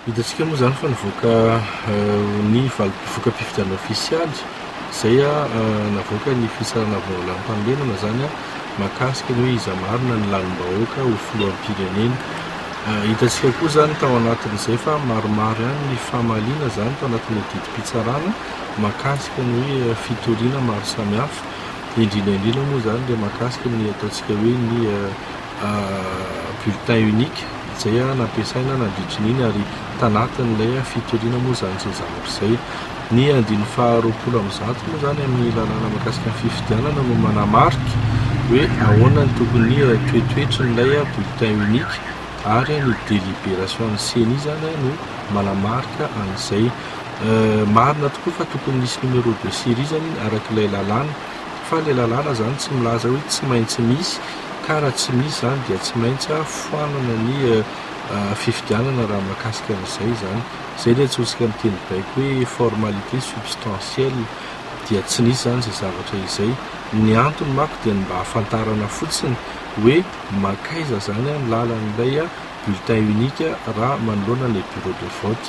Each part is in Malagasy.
Hitantsika moa izany fa nivoaka ny valim-pivoka-pifidianana ofisialy izay navoaka ny Fitsarana Vaolanam-panorenana izany mahakasika ny hoe iza marina ny lalim-bahoaka ho filoham-pirenena. Hitantsika koa izany tao anatin'izay fa maromaro ihany ny famaliana izany tao anatin'ny didim-pitsarana mahakasika ny hoe fitoriana maro samihafa, indrindra indrindra moa izany ilay mahakasika ny ataontsika hoe ny bulletin unique izay nampiasaina nandritry ny iny ary tanatin'ilay fitoriana moa izany izao zavatra izay. Ny andininy faha roapolo amby zato moa izany amin'ny lalàna mahakasika ny fifidianana no manamarika hoe ahoana ny tokony toetoetry n'ilay bulletin unique ary ny délibération ny ceni izany no manamarika an'izay. Marina tokoa fa tokony nisy numéro de série izany iny araka ilay lalàna. fa le lalàna zany tsy milaza hoe tsy maintsy misy ka raha tsy misy zany dia tsy maintsy foanana ny fifidianana raha mahakasika an'izay izany. Izay ilay antsointsika amin'ny teny baiko hoe formalité substantielle, dia tsy nisy izany izay zavatra izay. Ny antony manko dia ny mba hahafantarana fotsiny hoe mankaiza izany ny lalan'ilay bulletin unique raha manoloana ilay bureau de vote.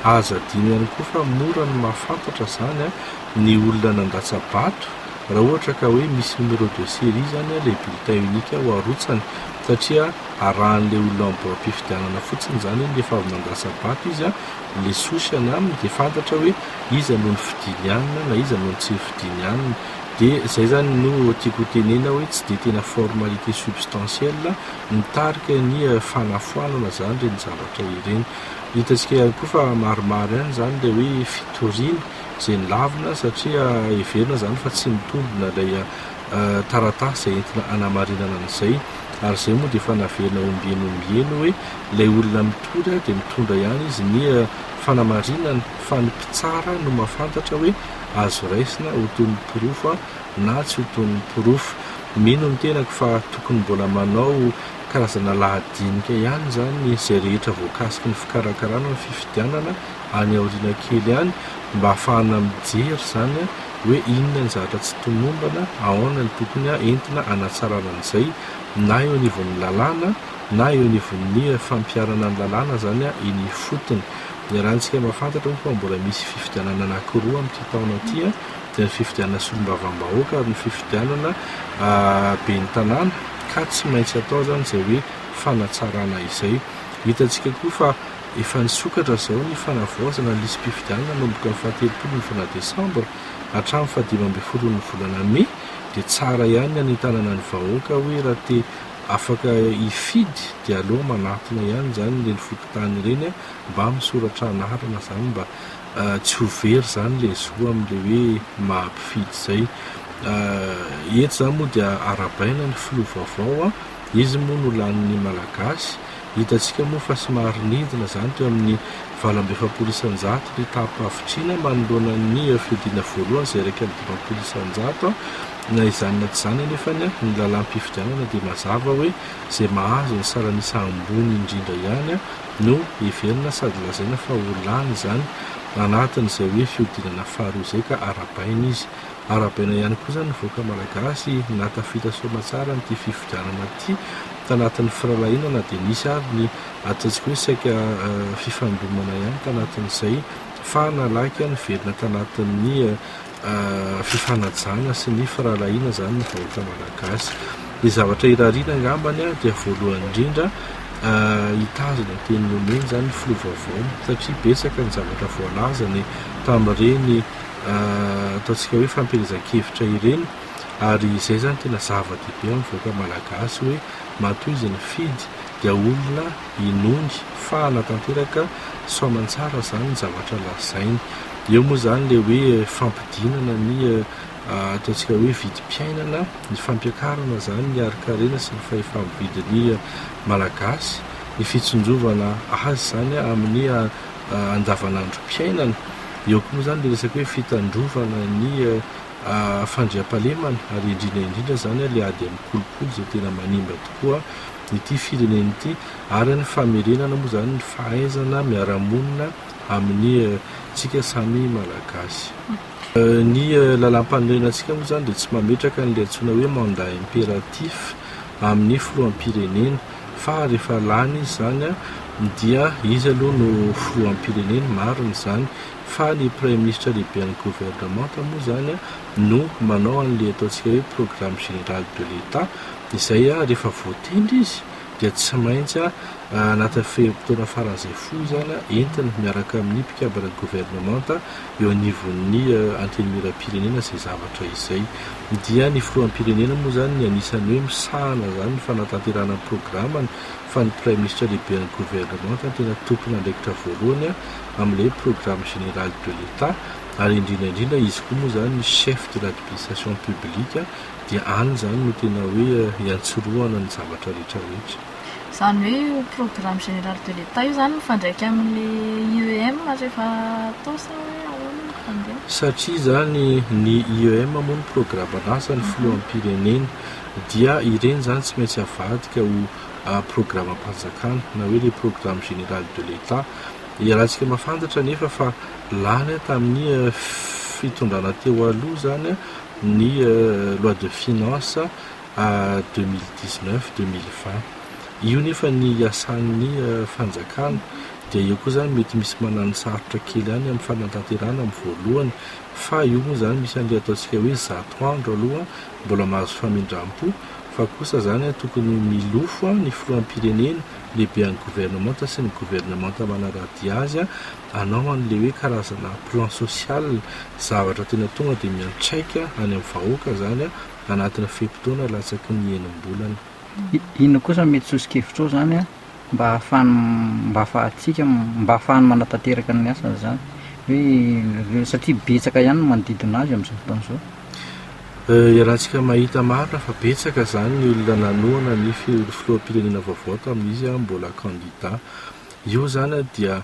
Aza adino ihany koa fa mora ny mahafantatra izany. ny olona nandatsa-bato raha ohatra ka hoe misy numéro de série zany ilay bulletin unique ho arotsany satria arahan'ilay olona amin'ny boaim-pifidianana fotsiny izany hoe efa avy nandatsa-bato izy an, ilay souche any aminy dia fantatra hoe iza no nifidiny anona na iza no tsy nifidiny anona dia izay zany no tiako ho tenena hoe tsy dia tena formalité substantielle mitarika ny fanafoanana izany ireny zavatra ireny, hitantsika ihany koa fa maromaro ihany izany ilay hoe fitoriana izay nilavina satria heverina izany fa tsy nitombina ilay taratasy izay entina hanamarinana an'izay ary izay moa dia efa naverina ombieny ombieny hoe ilay olona mitory dia mitondra ihany izy ny fanamarinana fa ny mpitsara no mahafantatra hoe azo raisina ho toy ny porofo na tsy ho toy ny porofo. Mino ny tenako fa tokony mbola manao karazana lahadinika ihany izany izay rehetra voakasiky ny fikarakarana ny fifidianana any aoriana kely any mba hahafahana mijery izany hoe inona ny zavatra tsy tomombana, ahaona ny tokony entina hanatsarana an'izay na eo anivon'ny lalàna na eo anivon'ny fampiharana ny lalàna izany eny ifotony. Iarahantsika mahafantatra moa fa mbola misy fifidianana anankiroa amin'ity taona ity dia ny fifidianana solombavambahoaka ary ny fifidianana ben'ny tanàna ka tsy maintsy atao izany izay hoe fanatsarana izay. Hitantsika koa fa Efa nisokatra izao ny fanavaozana ny lisi-pifidianana nanomboka ny fahatelopolo ny volana desambra hatramin'ny fahadimy ambin'ny folon'ny volana mey dia tsara ihany ny hanentanana ny vahoaka hoe raha te afaka hifidy dia aleo manatona ihany izany ireny fokontany ireny mba misoratra anarana izany mba tsy ho very izany ilay zo amin'ilay hoe maha mpifidy izay eto izany moa dia arabaina ny filoha vaovao izy moa no lanin'ny malagasy Hitantsika moa fa somary nidina izany teo amin'ny valo amby efapolo isanjato ny taham-pahavitrina manoloana ny fihodinana voalohany izay iraika amby dimampolo isanjato. Na izany na tsy izany anefa ny lalam-pifidianana dia mazava hoe izay mahazo ny saran'isa ambony indrindra ihany no heverina sady lazaina fa ho lany izany anatin'izay hoe fihodinana faharoa izay ka arahabaina izy Arahabaina ihany kosa ny vahoaka Malagasy nahatafita soamatsara an'ity fifidianana ity tanatin'ny firalahiana na dia nisy ary ny ataontsika hoe saika fifandonana ihany tanatin'izay fa nalaika niverina tanatin'ny fifanajana sy ny firalahiana izany ny vahoaka Malagasy. Ny zavatra irariana angambany dia voalohany indrindra hitazona ny teny nomeny izany ny filoha vaovao satria betsaka ny zavatra voalazany tamin'ireny ataontsika hoe fampielezan-kevitra ireny ary izay zany tena zava-dehibe amin'ny vahoaka malagasy hoe matoa izy nifidy dia olona inoany fahana tanteraka sao aman-tsara zany ny zavatra lazainy eo moa zany le hoe fampidinana ny ataontsika hoe vidim-piainana ny fampiakarana zany ny harin-karena sy ny fahefa-mividin'ny malagasy ny fitsinjovana azy zany amin'ny andavanandrom-piainana. Eo koa moa izany ilay resaka hoe fitandrovana ny fandriampahalemana ary indrindra indrindra izany ilay ady amin'ny kolikoly izay tena manimba tokoa ity firenena ity ary ny famerenana moa izany ny fahaizana miara-monina amin'ny antsika samy Malagasy. Ny lalàmpanorenana antsika moa izany dia tsy mametraka an'ilay antsoina hoe mandat impératif amin'ny filoham-pirenena fa rehefa lany izy izany dia izy aloha no filoham-pirenena, marina izany, fa ny praiminisitra lehiben'ny governemanta moa izany no manao an'ilay ataontsika hoe programme général de l'Etat izay rehefa voatendry izy dia tsy maintsy anatin'ny fe-potoana faran'izay fohy izany entiny miaraka amin'ny mpikambana governemanta eo anivon'ny antenimieram-pirenena izay zavatra izay. Ny dia ny filoham-pirenena moa izany ny anisan'ny hoe misahana izany ny fanatanterahana ny programany fa ny Praiminisitra lehiben'ny governemanta no tena tompon'andraikitra voalohany amin'ilay programme général de l'Etat ary indrindra indrindra izy koa moa izany ny chef de l'administration publique dia any izany no tena hoe iantsorohana ny zavatra rehetra rehetra. Izany hoe io programme général de l'Etat io izany mifandraika amin'ilay IEM rehefa atao sa hoe ahoana no fandehany? Satria izany, ny IEM moa no programan'asan'ny filoham-pirenena, dia ireny izany tsy maintsy avadika ho programam-panjakana, na hoe ilay programme général de l'Etat. Ialatsika mahafantatra anefa fa lany tamin'ny fitondrana teo aloha izany ny loi de finances, à 2019, 2020. Io nefa ny iasan'ny fanjakana dia eo koa izany mety misy manano sarotra kely ihany amin'ny fanatanterahana amin'ny voalohany fa io moa izany misy an'ilay ataontsika hoe zato andro aloha mbola mahazo famindram-po fa kosa izany tokony milofo ny filoham-pirenena, lehibean'ny governemanta sy ny governemanta manaradia azy hanao an'ilay hoe karazana plan social, zavatra tena tonga dia miantraika any amin'ny vahoaka izany. anatina fe-potoana latsaky ny enim-bolana. Inona kosa no mety soso-kevitrao izany mba hahafahany mba hahafahantsika mba hahafahany manatanteraka ny asany izany hoe satria betsaka ihany ny manodidina azy amin'izao fotoana izao? Iarahantsika mahita marina fa betsaka izany ny olona nanohana ny filoham-pirenena vaovao tamin'izy mbola kandida. Io izany dia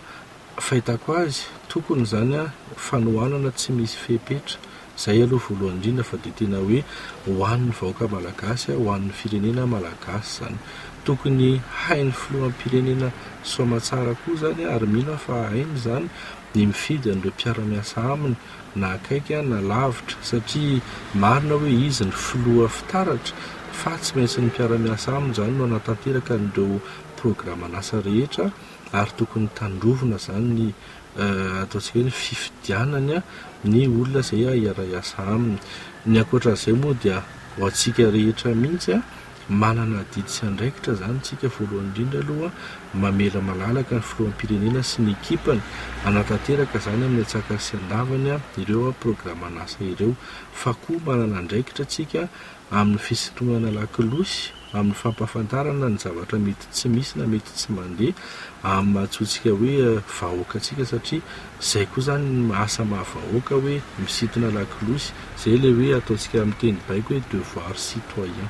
Fahitako azy, tokony izany an, fanohanana tsy misy fepetra, izay aloha voalohany indrindra fa dia tena hoe ho an'ny vahoaka malagasy, ho an'ny firenena malagasy izany. Tokony hain'ny filoham-pirenena soamatsara koa izany ary mino aho fa hainy izany ny mifidy an'ireo mpiara-miasa aminy na akaiky na lavitra satria marina hoe izy ny filoha fitaratra fa tsy maintsy ny mpiara-miasa aminy izany no hanatanteraka an'ireo programan'asa rehetra ary tokony tandrovina izany ny ataontsika hoe ny fifidianana ny olona izay hiara-hiasa aminy. Ny ankoatra an'izay moa dia ho antsika rehetra mihitsy, manana adidy sy andraikitra izany isika voalohany indrindra aloha mamela malalaka ny filoham-pirenena sy ny ekipany hanatanteraka izany amin'ny an-tsakany sy an-davany ireo programan'asa ireo, fa koa manana andraikitra isika amin'ny fisintonana lakolosy, amin'ny fampahafantarana ny zavatra mety tsy misy na mety tsy mandeha amin'ny maha antsointsika hoe vahoaka antsika satria izay koa izany ny asa maha vahoaka hoe misintona lakolosy, izay ilay hoe ataontsika amin'ny teny baiko hoe devoir citoyen.